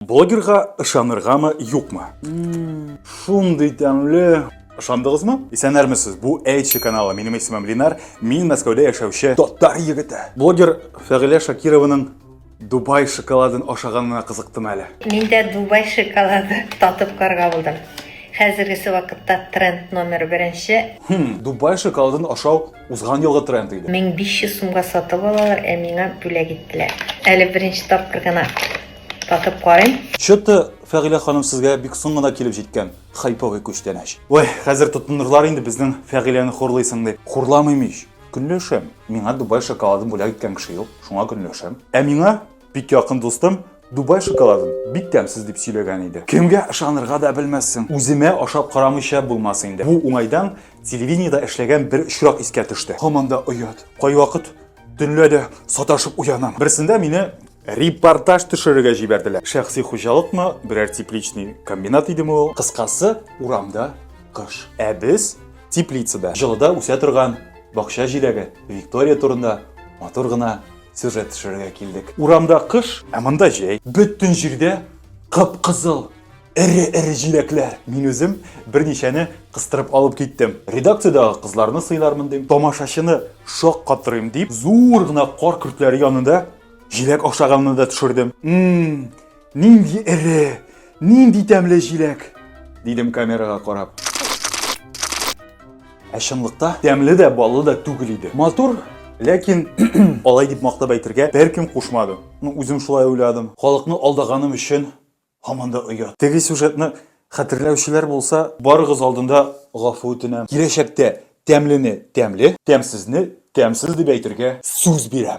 Блогерга ышаныргамы, юкмы? Шундый тәмле. Ышандыгызмы? Исәннәрмесез. Бу Эйчи каналы. Минем исемем Линар. Мин Мәскәүдә яшәүче татар егете. Блогер Фәгыйлә Шакированың Дубай шоколадын ашаганына кызыктым әле. Мин дә Дубай шоколады татып карга булдым. Хәзергесе вакытта тренд номер беренче. Хм, Дубай шоколадын ашау Узган елгы тренд иде. 1500 сумга сатып алалар, ә миңа бүләк иттеләр. Әле беренче тапкыр гына татып карыйм. Чыты, Фәгилә ханым сезгә бик соң гына килеп җиткән хайповый күчтәнәч. Ой, хәзер тотынырлар инде безнең Фәгиләне хурлыйсың дип. Хурламыйм ич. Көнләшәм. Миңа Дубай шоколадын бүләк иткән кеше юк, шуңа көнләшәм. Ә миңа Бик якын дустым Дубай шоколадын бик тәмсез дип сөйләгән иде. Кемгә ышанырга да белмәссең. Үземә ашап карамыйча булмас инде. Бу уңайдан телевидениедә эшләгән бер очрак искә төште. Һаман да оят. Кайвакыт төнлә дә саташып уянам. Берсендә мине репортаж төшерергә җибәрделәр. Шәхси хуҗалыкмы, берәр тепличный комбинат идеме ул? Кыскасы, урамда кыш. Ә без теплицада, җылыда үсә торган бакча җиләге Виктория турында матур гына сюжет төшерергә килдек. Урамда кыш, ә монда җәй. Бөтен җирдә кып-кызыл эре-эре җиләкләр. Мин үзем берничәне кыстырып алып киттем. Редакциядәге кызларны сыйлармын дим, тамашачыны шаккатырыйм дип, зур гына кар көртләре янында җиләк ашаганны да төшердем. Мм, Нинди эре, нинди тәмле җиләк! дидем камерага карап. Ә чынлыкта тәмле дә, баллы да түгел иде. Матур, ләкин алай дип мактап әйтергә беркем кушмады. Ну, үзем шулай уйладым. Халыкны алдаганым өчен һаман да оят. Теге сюжетны хәтерләүчеләр булса, барыгыз алдында гафу үтенәм. Киләчәктә тәмлене тәмле, тәмсезне тәмсез дип әйтергә сүз бирәм.